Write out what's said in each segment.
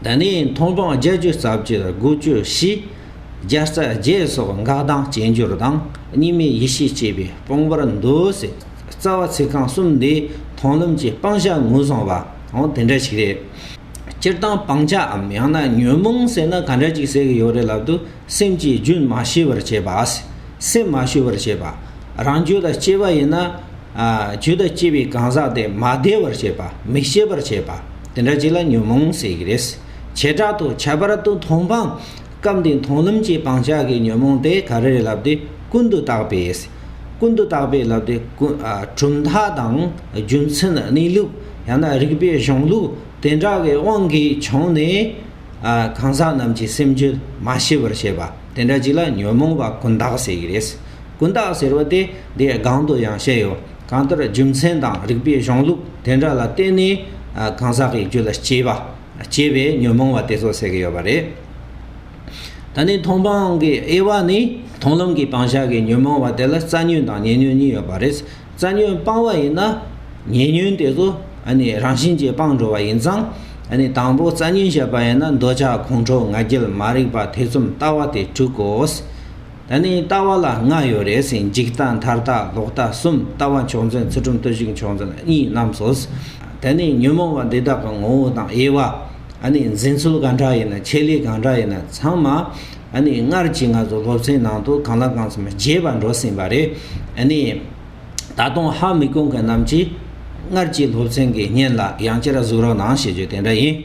ད་ནི་མཐོང་སྤང་རྒྱ་སྐྱེད་རྩ་བཅུད་སྒོ་སྐྱོད་བཞི། རྒྱ་རྩ་བརྒྱད་སོགས་འགག་ལྡང་སྐྱེ་འགྱུར་དང་གཉིས་མེད་ཡེ་ཤེས་བསྐྱེད་པའི་དཔང་པོར་འདུ་ཟེར། རྩ་བ་ཚིག་རྐང་གསུམ་འདི་མཐོང་ལམ་གྱི་སྤང་བྱ་ངོས་བཟུང་བའང་དེ་འདྲ་ཞིག་རེད། སྤྱིར་བཏང་སྤང་བྱའམ་ཡང་ན་ཉོན་མོངས་ཟེར་ན་ག་འདྲ་ཅིག་ཟེར་གི་ཡོད་རེད་ལབ་དུས་སེམས་ཀྱིས་རྒྱུན་མ་ཤེས་པར་བྱེད་པ། སེམས་མ་ཤུ་བར་བྱེད་པ། རང་རྒྱུད་ལ་སྐྱེས་པ་ཡིན་ན། རྒྱུད་ལ་སྐྱེས་པའི་གང་ཟག་དེ་མ་བདེ་བར་བྱེད་པ་མིག་ཤེས་པར་བྱེད་པ། དེ་འདྲ་ཅིག་ལ་ཉོན་མོངས་ཟེར་གྱི་རེད། བྱེ་བྲག་ཏུ་ཁྱད་པར་དུ་མཐོང་སྤང། སྐབས་འདིའི་མཐོང་ལམ་གྱི་སྤང་བྱ་དགའི་ཉོན་མོངས་དེ་ག་རེ་རེད་ལབ་དེ་ཀུན་ཏུ་བརྟགས་པས། ཀུན་ཏུ་བརྟགས་པས་ལབ་དེ་གྲུབ་མཐའ་དང་རྒྱུ་མཚན་གནས་ལུགས་ཡང་ན་རིགས་པའི་གཞུང་ལུགས་དེ་འདྲ་བའི་དབང་གིས་བྱུང་ནས། གང་ཟག་རྣམས་ཀྱི་སེམས་རྒྱུད་མ་ཤེས་པར་བྱེད་པ་དེ་འདྲ་ཅིག་ལ་ཉོན་མོངས་པ་ཀུན་བརྟགས་ཟེར་གྱི་རེད། ཀུན་བརྟགས་ཟེར་བ་དེ་འདིའི་སྒང་དུ་ཡང་བཤད་ཡོད། གང་ལྟར་རྒྱུ་མཚན་དང་རིགས་པའི་གཞུང་ལུགས་དེ་འདྲ་ལ་བརྟེན་ནས་གང་ཟག་གི་རྒྱུ་ལ་སྐྱེས་པ་སྐྱེ་བའི་ཉོན་མོངས་པ་དེ་ཚོ་ཟེར་གྱི་ཡོད་པ་རེད། ད་ནི་མཐོང་སྤང་གི་དབྱེ་བ་ནི་མཐོང་ལམ་གྱི་སྤང་བྱ་གི་ཉོན་མོངས་པ་དེ་ལ་རྩ་ཉོན་དང་ཉེ་ཉོན་གཉིས་ཡོད་པ་རེད། རྩ་ཉོན་སྤང་བ་ཡིན་ན་ཉེ་ཉོན་དེ་ཚོ་རང་བཞིན་གྱིས་སྤངས་འགྲོ་བ་ཡིན་ཙང། དང་པོ་རྩ་ཉོན་བཤད་པ་ཡིན་ན་འདོད་ཆགས་ཁོང་ཁྲོ་ང་རྒྱལ་མ་རིག་པ་ཐེ་ཚོམ་ལྟ་བ་དེ་དྲུག་གོ། ད་ནི་ལྟ་བ་ལ་ལྔ་ཡོད་རེད་ཟིན་འཇིག་ལྟ་མཐར་ལྟ་ལོག་ལྟ་གསུམ་ལྟ་བ་མཆོག་འཛིན་ཚུལ་ཁྲིམས་བརྟུལ་ཞུགས་མཆོག་འཛིན་གཉིས་རྣམས་སོ། ད་ནི་ཉོན་མོངས་པ་འདི་དག་གི་ངོ་བོ་དང་དབྱེ་བ། ཨ་ནི་འཛིན་ཚུལ་གང་འདྲ་ཡིན་ན་ཆེད་ལས་གང་འདྲ་ཡིན་ན་ཚང་མ། ཨ་ནི་སྔར་གྱི་ང་ཚོ་སློབ་ཚན་ནང་དུ་གང་ལ་གང་འཚམ་རྒྱས་པར་འགྲོ་ཟིན་པ་རེད། ཨ་ནི། ད་དུང་ཧ་མི་གོ་མཁན་རྣམས་ཀྱིས་སྔར་གྱི་སློབ་ཚན་གྱི་བརྙན་ལ་ཡང་བསྐྱར་གཟིགས་རོགས་གནང་ཞེས་བརྗོད་དེ་འདྲ་ཡིན།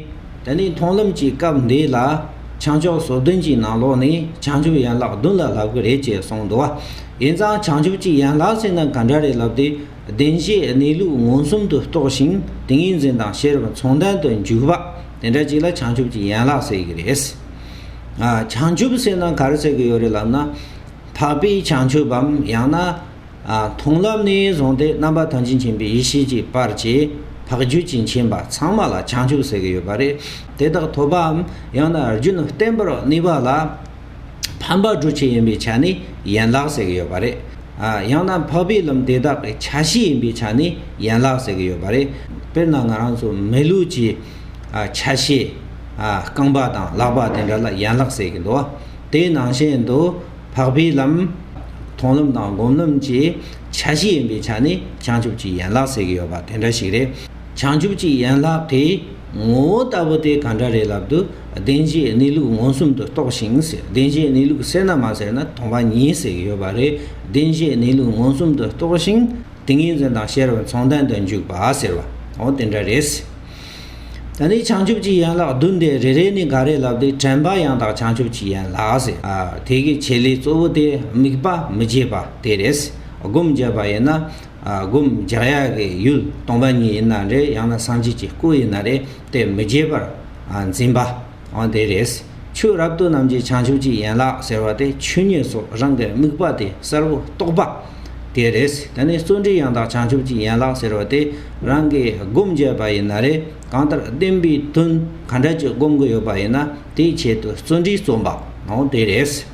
ད་ནི་མཐོང་ལམ་གྱི་སྐབས་འདི་ལ་བྱང་ཕྱོགས་ཟོ་བདུན་གྱི་ནང་ལོགས་ནི་བྱང་ཆུབ་ཡན་ལག་བདུན་ལ་ལབ་གི་རེད་ཅེས་གསུངས་འདུག་བ། ཡིན་ཙང་བྱང་ཆུབ་ཀྱི་ཡན་ལག་ཟེར་ན་ག་འདྲ་རེད་ལབ་དུས་བདེན་བཞིའི་གནས་ལུགས་མངོན་སུམ་དུ་རྟོགས་ཤིང་ཏིང་ངེ་འཛིན་དང་ཤེས་རབ་མཚུངས་ལྡན་དུ་འཇུག་པ་དེ་འདྲ་ཅིག་ལ་བྱང་ཆུབ་ཀྱི་ཡན་ལག་ཟེར་གྱི་རེད། བྱང་ཆུབ་ཟེར་ན་ག་རེ་ཟེར་གྱི་ཡོད་རེད་ལབ་ན། འཕགས་པའི་བྱང་ཆུབ་བམ་ཡང་ན། མཐོང་བསླབ་ནས་བཟུང་སྟེ་རྣམ་པ་ཐམས་ཅད་མཁྱེན་པའི་ཡེ་ཤེས་ཀྱི་བར་གྱི་བག་རྒྱུད་ཀྱི་མཁྱེན་པ་ཚང་མ་ལ་བྱང་ཆུབ་ཟེར་གྱི་ཡོད་པ་རེད། དེ་དག་ཐོབ་པའམ་ཡང་ན་རྒྱུན་བརྟན་པོར་གནས་པ་ལ་ཕན་པ་སྒྲུབ་བྱེད་ཡིན་པའི་ཆ་ནས་ཡན་ལག་ཟེར་གྱི་ཡོད་པ་རེད། ཡང་ན་འཕགས་པའི་ལམ་དེ་དག་གི་ཆ་ཤས་ཡིན་པའི་ཆ་ནས་ཡན་ལག་ཟེར་གྱི་ཡོད་པ་རེད། དཔེར་ན་ང་རང་ཚོ་མི་ལུས་ཀྱི་ཆ་ཤས་རྐང་པ་དང་ལག་པ་དེ་འདྲ་ལ་ཡན་ལག་ཟེར་གྱི་འདུག་དེའི་ནང་བཞིན་དུ། འཕགས་པའི་ལམ། མཐོང་ལམ་དང་སྒོམ་ལམ་གྱི་ཆ་བཞི་ཡིན་པའི་ཆ་ནི་བྱང་ཆུབ་ཀྱི་ཡན་ལག་ཟེར་གྱི་ཡོད་པ་དེ་འདྲ་ཞིག་རེད། བྱང་ཆུབ་ཀྱི་ཡན་ལག་གི་ངོ་བོ་ལྟ་བུ་དེ་ག་འདྲ་རེད་ལབ་དུས་བདེན་བཞིའི་གནས་ལུགས་མངོན་སུམ་དུ་རྟོགས་ཤིང་ཟེར་བདེན་བཞིའི་གནས་ལུགས་གསལ་ན་མ་གསལ་ན་མཐོང་པ་ཉིད་ཟེར་གྱི་ཡོད་པ་རེད། བདེན་བཞིའི་གནས་ལུགས་མངོན་སུམ་དུ་རྟོགས་ཤིང་ཏིང་ངེ་འཛིན་དང་ཤེས་རབ་མཚུངས་ལྡན་དུ་འཇུག་པ་ཟེར་བའང་དེ་འདྲ་རེད། ད་ནི་བྱང་ཆུབ་ཀྱི་ཡན་ལག་བདུན་ཏེ་རེ་རེ་ནི་འགའ་རེ་ལབ་སྟེ་དྲན་པ་ཡང་དག་བྱང་ཆུབ་ཀྱི་ཡན་ལག་ཟེར། དེ་གི་བྱེད་ལས་གཙོ་བོ་དེ་དམིགས་པ་མི་བརྗེད་པ་དེ་རེད། སྒོམ་བརྒྱད་པ་ཡིན་ན། སྒོམ་བརྒྱག་ཡ་གི་ཡུལ་སྟོང་པ་ཉིད་ཡིན་ན་རེད་ཡང་ན་སངས་རྒྱས་ཀྱི་སྐུ་ཡིན་ན་རེད་དེ་མི་བརྗེད་པར་འཛིན་པ། འོན་ཏེ་རེས་ཆོས་རབ་ཏུ་རྣམས་ཀྱི་བྱང་ཆུབ་ཀྱི་ཡན་ལག་ཟེར་བ་དེ་ཆོས་ཉིད་སོགས་རང་གི་དམིགས་པ་དེ་གསལ་བོ་རྟོགས་པ། དེ་རེས་དེ་ནས་བརྩོན་འགྲུས་ཡང་དག་བྱང་ཆུབ་ཀྱི་ཡན་ལག་ཟེར་བ་དེ་རང་གིས་སྒོམ་བྱས་པ་ཡིན་ན་རེས་གང་ལྟར་བདེན་པའི་དོན་ག་འདྲ་གྱི་སྒོམ་གྱི་ཡོད་པ་ཡིན་ན་དེའི་ཆེད་དུ་བརྩོན་འགྲུས་རྩོམ་པ། འོན་ཏེ་རེས།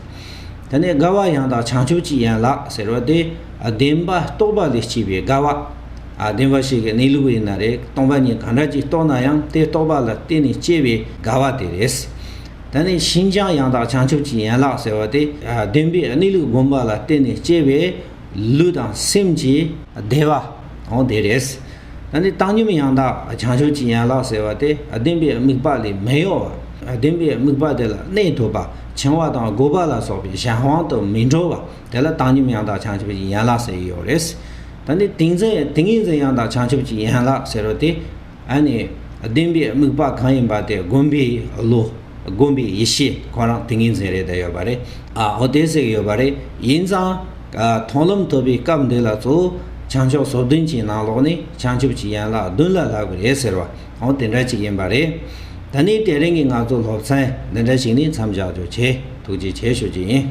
ད་ནི་དགའ་བ་ཡང་དག་བྱང་ཆུབ་ཀྱི་ཡན་ལག་ཟེར་བ་དེ་བདེན་པ་རྟོགས་པ་ལས་སྐྱེས་པའི་དགའ་བ། བདེན་པ་ཞིག་གི་གནས་ལུགས་ཡིན་ན་རེག་སྟོང་པ་ཉིད་གང་འདྲ་ཅིག་རྟོགས་ན་ཡང་དེ་རྟོགས་པ་ལ་བརྟེན་ནས་སྐྱེས་པའི་དགའ་བ་དེ་རེད། ད་ནི་ཤིན་སྦྱངས་ཡང་དག་བྱང་ཆུབ་ཀྱི་ཡན་ལག་ཟེར་བ་དེ་བདེན་པའི་གནས་ལུགས་བསྒོམས་པ་ལ་བརྟེན་ནས་སྐྱེས་པའི་ལུས་དང་སེམས་ཀྱི་བདེ་བ་དང་དེ་རེས་ད་ནི་བཏང་སྙོམས་ཡང་དག་བྱང་ཆུབ་ཀྱི་ཡན་ལག་ཟེར་བ་དེ་བདེན་པའི་དམིགས་པ་ལས་མི་གཡོ་བ་བདེན་པའི་དམིགས་པ་དེ་ལ་གནས་ཐུབ་པ་བྱིང་བ་དང་རྒོད་པ་ལ་སོགས་པའི་གཞན་དབང་དུ་མི་འགྲོ་བ་དེ་ལ་བཏང་སྙོམས་ཡང་དག་བྱང་ཆུབ་ཀྱི་ཡན་ལག་ཟེར་ཡོད་རེད། ད་ནི་ཏིང་འཛིན་ཏིང་ངེ་འཛིན་ཡང་དག་བྱང་ཆུབ་ཀྱི་ཡན་ལག་ཟེར་བ་དེ། ཨ་ནི་བདེན་པའི་དམིགས་པ་གང་ཡིན་པ་དེ་སྒོམ་པའི་བློ། སྒོམ་པའི་ཡེ་ཤེས་ཁོ་རང་ཏིང་ངེ་འཛིན་རེད་ད་ཡོད་པ་རེད། ཨ་ཨོ་དེ་ཟིག་ཡོད་པ་རེད། ཡིན་ཙང། མཐོང་ལམ་ཐོབ་པའི་སྐབས་འདི་ལ་གཙོ་བོ་བྱང་ཕྱོགས་སོ་བདུན་གྱི་ནང་ལོགས་ནི་བྱང་ཆུབ་ཀྱི་ཡན་ལག་བདུན་ལ་ལྷག་པའི་རེད་ཟེར་བ་འོང་དེ་འདྲ་ཅིག་ཡིན་པ་རེད། ད་ནི་དེ་རིང་གི་ང་ཚོ་སློབ་ཚན་འདི་འདྲ་ཞིག་ནི་མཚམས་བཞག་རྒྱུ་བྱས་ཐུགས་རྗེ་ཆེ་ཞུ་རྒྱུ་ཡིན།